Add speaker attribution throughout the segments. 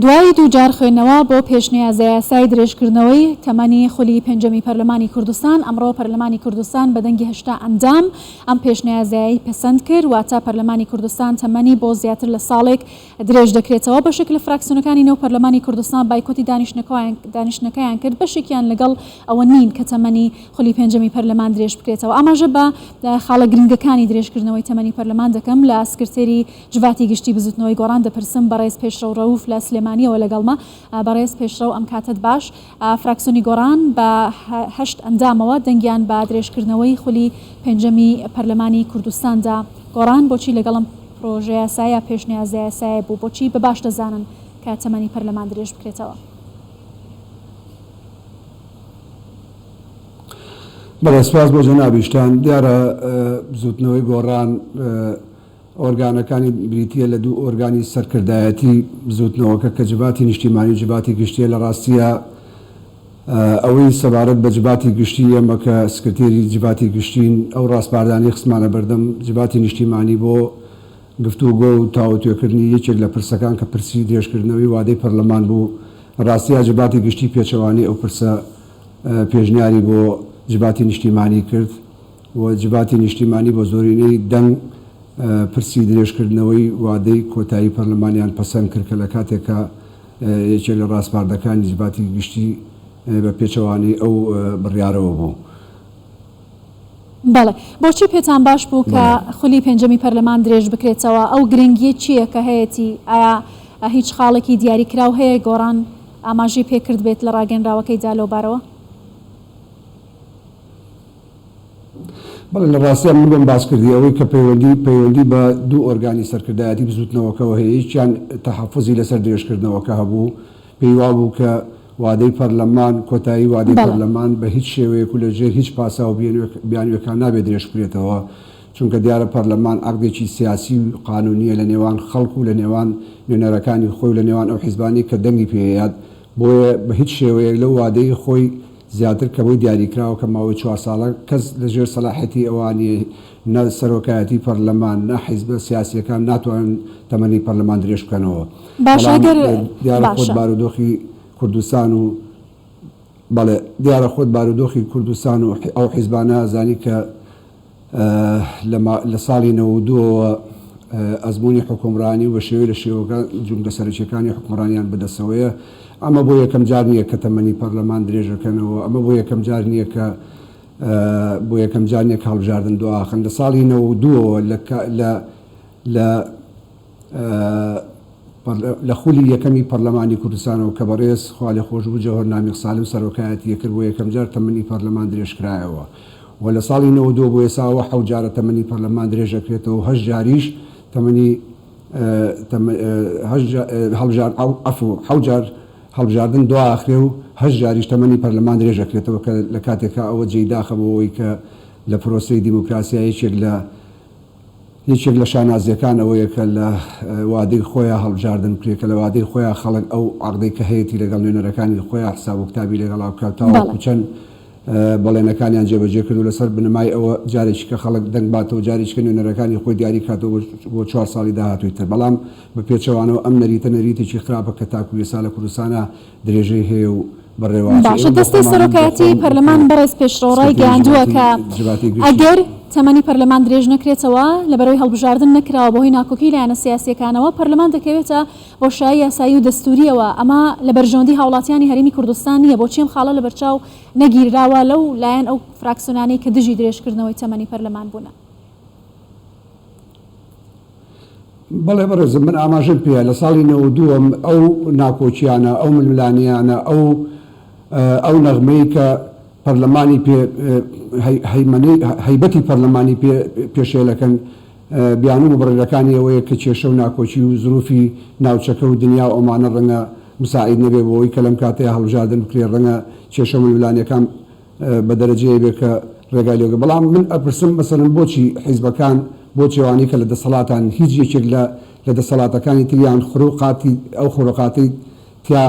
Speaker 1: دوای دوو جار خوێندنەوە بۆ پێشنیازەیاسای درێژکردنەوەی تەمەنی خولی پێنجەمی پەرلەمانی کوردستان، ئەمڕۆ پەرلەمانی کوردستان بە دەنگی هەشتا ئەندام ئەم پێشنیازەیەی پەسەند کرد، واتە پەرلەمانی کوردستان تەمەنی بۆ زیاتر لە ساڵێک درێژدەکرێتەوە، بەشێک لە فراکسیۆنەکانی نێو پەرلەمانی کوردستان بایکۆتی دانیشتنەکەیان کرد، بەشێکیان لەگەڵ ئەوە نین کە تەمەنی خولی پێنجەمی پەرلەمان درێژبکرێتەوە، ئاماژە بە خاڵە گرنگەکانی درێژکردنەوەی تەمەنی پەرلەمان دەکەم لە سکرتێری. جڤاتی گشتی بزوتنەوەی گۆڕان دەپرسم بەڕێز پێشڕەو ڕەوف لە سلێمانیەوە لەگەڵمە بەڕێز پێشڕەو ئەم کاتەت باش فراکسیۆنی گۆڕان بە هەشت ئەندامەوە دەنگیان بە درێژکردنەوەی خولی پێنجەمی پەرلەمانی کوردستان دا گۆڕان بۆچی لەگەڵ ئەم پرۆژەیاسایە پێشنیازەیاسایە بوو بۆچی بە باش دەزانن کە تەمەنی پەرلەمان درێژ بکرێتەوە.
Speaker 2: بەڵێ سپاس بۆ جەنابیشتان دیارە بزوتنەوەی گۆڕان. ئۆرگانەکانی بریتییە لە دوو ئۆرگانی سەرکردایەتی بزووتنەوەکە کە جڤاتی نیشتیمانی و جڤاتی گشتییە، لە ڕاستییا ئەوەی سەبارەت بە جڤاتی گشتی ئێمە کە سکرتێری جڤاتی گشتین ئەو ڕاسپاردانەی خستمانە بەردەم جڤاتی نیشتیمانی بۆ گفتوگۆ و تاوتوێکردنی یەکێک لە پرسەکان کە پرسی درێژکردنەوەی وادەی پەرلەمان بوو، لە ڕاستییا جڤاتی گشتی پێچەوانەی ئەو پرسە پێشنیاری بۆ جڤاتی نیشتیمانی کرد. وجباتی نیشتیمانی بە زۆرینەی دەنگ پرسی درێژکردنەوەی وادەی کۆتایی پەرلەمانیان پەسەند کرد کە لە کاتێکە یەکێک لە ڕاسپاردەکانی جباتی گشتی بە پێچەوانەی ئەو بڕیارەوە بوو.
Speaker 1: بەڵێ بۆچی پێتان باش بوو کە خولی پێنجەمی پەرلەمان درێژ بکرێتەوە؟ ئەو گرنگیە چیە کە هەیەتی؟ ئایا هیچ خاڵێکی دیاری کراو هەیە گۆڕان ئاماژەی پێکردبێت لە ڕاگەنراوەکەیدا لەوبارەوە؟
Speaker 2: بەڵێ لە ڕاستیا من بۆم باس کردی ئەوەی کە پەیوەندی پەیوەندی بە دوو ئۆرگانی سەرکردایەتی بزووتنەوەکەوە هەیە یەکیان تەحەفوزی لەسەر درێژکردنەوەکە هەبوو پێی وابوو کە وادەی پەرلەمان کۆتایی وادەی بەڵێ پەرلەمان بە هیچ شێوەیەک و لە ژێر هیچ پاساو و بیانوێک بیانوێکا نابێ درێژ بکرێتەوە چونکە دیارە پەرلەمان عەقدێکی سیاسی و قانوونییە لە نێوان خەڵک و لە نێوان نوێنەرەکانی خۆی و لە نێوان ئەو حیزبانەی کە دەنگی پێیەت بۆیە بە هیچ شێوەیەک لەو وادەی خۆی زیاتر کەمەوەی دیاریکراوە کە ماوەی چوار ساڵە کەس لە ژێر سەلاحیەتی ئەوان نیە، نە سەرۆکایەتی پەرلەمان، نە حیزبە سیاسیەکان ناتوانن تەمەنی پەرلەمان درێژ بکەنەوە. باشە بەڵام گەر دیارە خۆت باشە. بارودۆخی کوردستان و بەڵێ دیارە خۆت بارودۆخی کوردستان و ئەو حیزبانە ئەزانی کە لە ساڵی نەوەد و دوو ەوە ئەزموونی حوکمڕانی و بە شێوەی لە شێوەکان جومگە سەرەکییەکانی حوکمڕانیان بەدەستەوەیە. ئەمە بۆ یەکەم جار نییە کە تەمەنی پەرلەمان درێژەکەنەوە. ئەمە بۆ یەکەم جار نییە کە بۆ یەکەم جار نییە کە هەڵبژاردن دواخەن. لە ساڵی نەوەد و دوو ەوە لە لە لە خولی یەکەمی پەرلەمانی کوردستانەوە کە بەڕێز، خوالێخۆشبوو، جەوهەر نامیق سالم سەرۆکایەتی ئەکرد، بۆ یەکەمجار تەمەنی پەرلەمان درێژکرایەوە و لە ساڵی نەوەد و دوو بۆ ئێستا ئەوە حەوت جارە تەمەنی پەرلەمان درێژدەکرێتەوە و هەشت جاریش هەڵبژاردن دواخرێ و هەشت جاریش تەمەنی پەرلەمان درێژدەکرێتەوە کە لە کاتێکا ئەوە جێی داخە بۆ ئەوەی کە لە پرۆسەی دیموکراسیا یەکێک لە یەکێک لە شانازیەکان ئەوەیە کە لە وادەی خۆیا هەڵبژاردن بکرێت، کە لە وادەی خۆیا خەڵک ئەو عەقدەی کە هەیەتی لەگەڵ نوێنەرەکانی خۆیا حساب و کتابی لەگەڵا بکات و تاوەکو چەند بەڵێنەکانیان جێبەجێ کردوو لەسەر بنەمای ئەوە جارێکیکە خەڵک دەنگ باتەوە جاریکە نوێنەرەکانی خۆی دیاری بکاتەوە بۆ چوار ساڵی داهاتووی تر بەڵام بە پێچەوانەوە ئەم نەریتە نەریتێکی خراپە کە تاکو ئێستا لە کوردستانا درێژەی هەیە و بە ڕێواتێ ئێمە باشە بۆ دەستەی
Speaker 1: خۆمانم بۆ سەرۆکایەتی خۆم پەرلەمان بەڕێز پێشڕەو سکرتێری ڕایگەیاندووە جڤاتی کە جڤاتی گشتی ئەگەر تەمەنی پەرلەمان درێژ نەکرێتەوە لە بەرەوەی هەڵبژاردن نەکراوە بەهۆی ناکۆکی لایەنە سیاسییەکانەوە پەرلەمان دەکەوێتە بۆشایی یاسایی و دەستوورییەوە ئەمە لە بەرژەوەندی هاوڵاتیانی هەرێمی کوردستان نییە بۆچی ئەم خاڵە لە بەرچاو نەگیرراوە لەو لایەن ئەو فراکسیۆنانەی کە دژی درێژکردنەوەی تەمەنی پەرلەمان بوونە
Speaker 2: بەڵێ بەڕێزم من ئاماژەم پێیە لە ساڵی نەوەد و دوو ەم ئەو ناکۆکییانە، ئەو ململانێیانە، ئەو ئەو نەغمەی کە پەرلەمانی پێ هەیمەنەی هەیبەتی پەرلەمانی پێ پێشێلەکەن بیانوو و بڕێرەکانی ئەوەیە کە کێشە و ناکۆکی و زرووفی ناوچەکە و دنیا و ئەومانە ڕەنگە مساعید نەبێ بۆ ئەوەی کە لەم کاتەیا هەڵبژاردن بکرێ ڕەنگە کێشە و ململانێکان بە دەرەجەیە بێ کە ڕێگای لێ بگرن بەڵام من ئەپرسم مەسەلەن بۆچی حیزبەکان بۆچی ئەوانەی کە لە دەسەڵاتان هیچ یەکێک لە لە دەسەڵاتەکانی تریان خروقاتی ئەو خورقاتەی تیا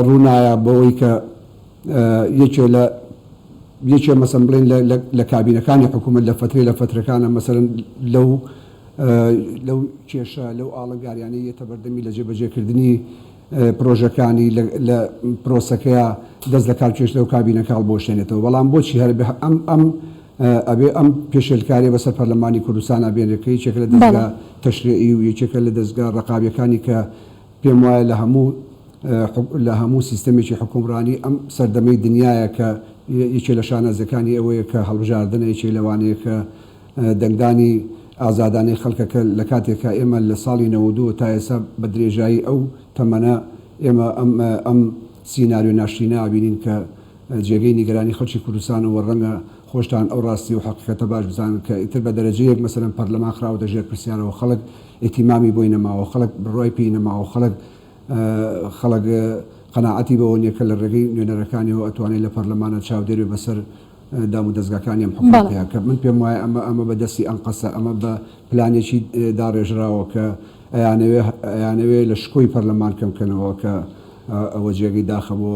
Speaker 2: ڕوو نایە بەوەی کە یەکێ لە یەکێ مەسەن بڵێن لە لە کابینەکانی حکوومەت لە فەترەی لە فەترەکانە مەسەن لەو لەو کێشە لەو ئاڵنگاریانەی یەتە بەردەمی لە جێبەجێکردنی پرۆژەکانی لە پرۆسەکەیا دەست لە کار کێشتەوە کابینە کاڵ بۆشێنێتەوە بەڵام بۆچی هەر ئەم ئەبێ ئەم پێشێلکاریە بەسەر پەرلەمانی کوردستانا بێنرێت کە یەکێکە لە دەزگا تەشرێعی و یەکێکە لە دەزگا ڕەقابیەکانی کە پێم وایە لە هەموو لە هەموو سیستەمێکی حکومڕانی ئەم سەردەمەی دنیایە کە یەکێ لە شانازیەکانی ئەوەیە کە هەڵبژاردنە یەکێ لەوانەیە کە دەنگدانی ئازادانەی خەڵکەکە لە کاتێکە ئێمە لە ساڵی نەوەد و دوو تا ئێستا بە درێژایی ئەو تەمەنە ئێمە ئەم ئەم سیناریۆ ناشرینە ئابینین کە جێگەی نیگەرانی خەڵکی کوردستانە و ڕەنگە خۆشتان ئەو ڕاستی و حەقیقەتە باش بزانن کە ئیتر بە دەرەجەیەک مەسەلەن پەرلەمان خراوەتە ژێر پرسیارەوە خەڵک ئیتیمامی بۆی نەماوە خەڵک بڕوای پێی نەماوە خەڵک خەڵک قەناعەتی بەوە نیە کە لە ڕێگەی نوێنەرەکانیەوە ئەتوانێت لە پەرلەمانا چاودێر بێت بەسەر دام و دەزگاکانی ئەم حکومەتەیە کە من پێم وایە ئەمە ئەمە بە دەستی ئەنقەسە ئەمە بە پلانێکی داڕێژراوە کە ئەیانەوێ ئەیانەوێ لە شکۆی پەرلەمان کەم کەنەوە کە ئەوە جێگەی داخە بۆ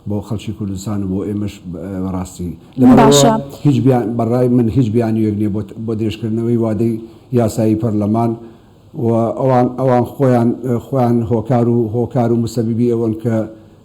Speaker 2: بۆ خەڵکی کوردستان و بۆ ئێمەش بەڕاستی لەبەرەوە هیچ بیان بەڕای من هیچ بیانویەک نیە بۆ درێژکردنەوەی وادەی یاسایی پەرلەمان و ئەوان ئەوان خۆیان خۆیان هۆکار و هۆکار و مسەبیبی ئەوەن کە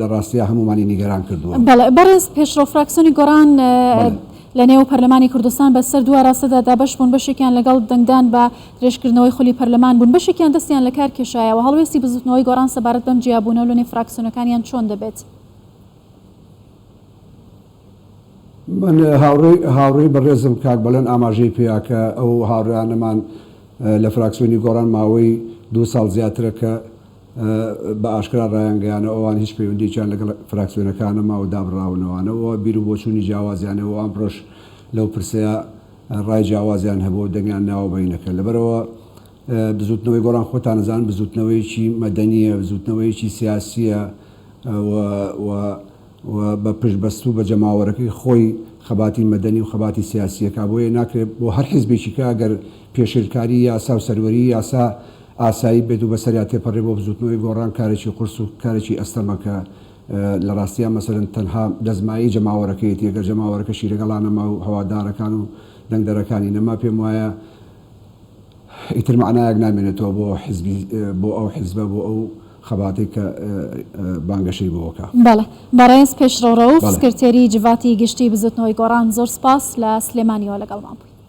Speaker 2: لە ڕاستیا هەموومانی نیگەران کردووە. بەڵێ بەڕێز پێشڕەو
Speaker 1: فراکسیۆنی گۆڕان لە نێو پەرلەمانی کوردستان بە سەر دو ئاراستەدا دابەش بوون بەشێکیان لەگەڵ دەنگدان بە درێژکردنەوەی خولی پەرلەمان بوون بەشێکیان دەستیان لە کار کێشایەوە هەڵوێستی بزوتنەوەی گۆڕان سەبارەت بەم جیابوونەو لە نێو فراکسیۆنەکانیان چۆن دەبێت؟
Speaker 2: من هاوڕێی هاوڕێی بەڕێزم کاک بەڵێن ئاماژەی پێیا کە ئەو هاوڕێیانەمان لە فراکسیۆنی گۆڕان ماوەی دو ساڵ زیاترە کە بە ئاشکرا ڕایانگەیانەوە ئەوان هیچ پەیوەندییەکیان لەگەڵ فراکسیۆنەکان نەما و دابڕاونەوانە و بیر و بۆچوونی جیاوازیانە و ئەمڕۆش لەو پرسەیا ڕای جیاوازیان هەبووە و دەنگیان ناوە بەینەکە. لەبەرئەوە بزووتنەوەی گۆڕان خۆتان ئەزانن بزووتنەوەیەکی مەدەنییە، بزووتنەوەیەکی سیاسییە و و بە پشتبەستوو بە جەماوەرەکەی خۆی خەباتی مەدەنی و خەباتی سیاسی ئەکا. بۆیە ناکرێ بۆ هەر حیزبێکیکە ئەگەر پێشێلکاریی یاسا و سەروەریی یاسا ئاسایی بێت و بەسەریا تێپەڕێ بۆ بزووتنەوەی گۆڕان کارێکی قورس و کارێکی ئەستەمە کە لە ڕاستیا مەسەلەن تەنها دەستمایەی جەماوەرەکەیەتی ئەگەر جەماوەرەکەشی لەگەڵا نەما و هەوادارەکان و دەنگدەرەکانی نەما پێم وایە ئیتر مەعنایەک نامێنێتەوە بۆ حیزبی بۆ ئەو حیزبە بۆ ئەو خەباتەی کە بانگەشەی بۆ کە. بەڵێ بەڕێز
Speaker 1: پێشڕەو ڕەوف سکرتێری جڤاتی گشتی بزووتنەوەی گۆڕان زۆر سپاس لە سلێمانیەوە لەگەڵمان بوویت.